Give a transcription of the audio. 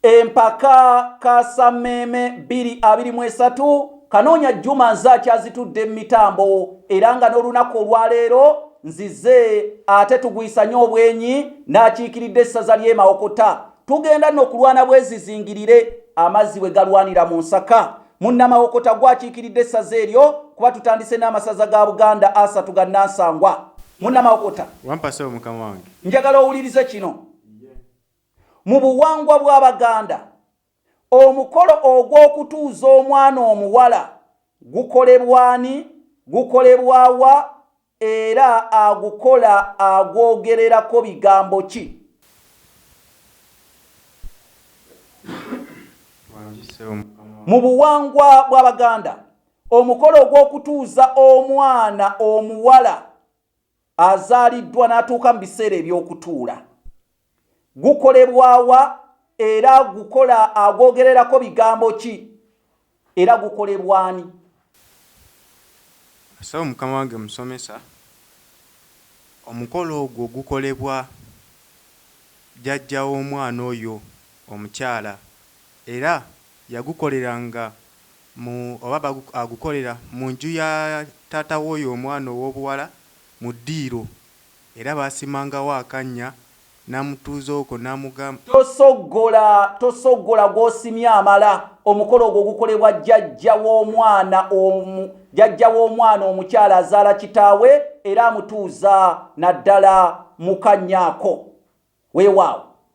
empaka kasammeeme 223 kanoonya juma nze akyazitudde mu mitambo era nga n'olunaku olwaleero nzize ate tugwisanye obwenyi n'akiikiridde essaza ly'emawokota tugenda nno okulwana bwezizingirire amazzi bwe galwanira mu nsaka munnamawokota gwakiikiridde essaza eryo kuba tutandise n'amasaza ga buganda asatu ga nansangwa munnamawokota wampaseo mukama wange njagala owulirize kino Mu buwangwa bw'Abaganda, omukolo ogw'okutuuza omwana omuwala gukolebwa ani, gukolebwa wa era agukola agwogererako bigambo ki? Mu buwangwa bw'Abaganda, omukolo ogw'okutuuza omwana omuwala azaaliddwa n'atuuka mu biseera eby'okutuula gukolebwawa era gukola agwogererako bigambo ki era gukolebwani asawo mukama wange musomesa omukolo ogwo gukolebwa jajja w'omwana oyo omukyala era yagukolera nga mu oba bagu agukolera mu nju ya taata w'oyo omwana ow'obuwala mu ddiiro era baasimangawo akannya n'amutuuza okwo n'amugamba. Tosoggola, tosoggola gw'osimye amala, omukolo ogwo gukolebwa jjajja w'omwana omu, jjajja w'omwana omukyala azaala kitaawe era amutuuza naddala mu kannya ako. Weewaawo,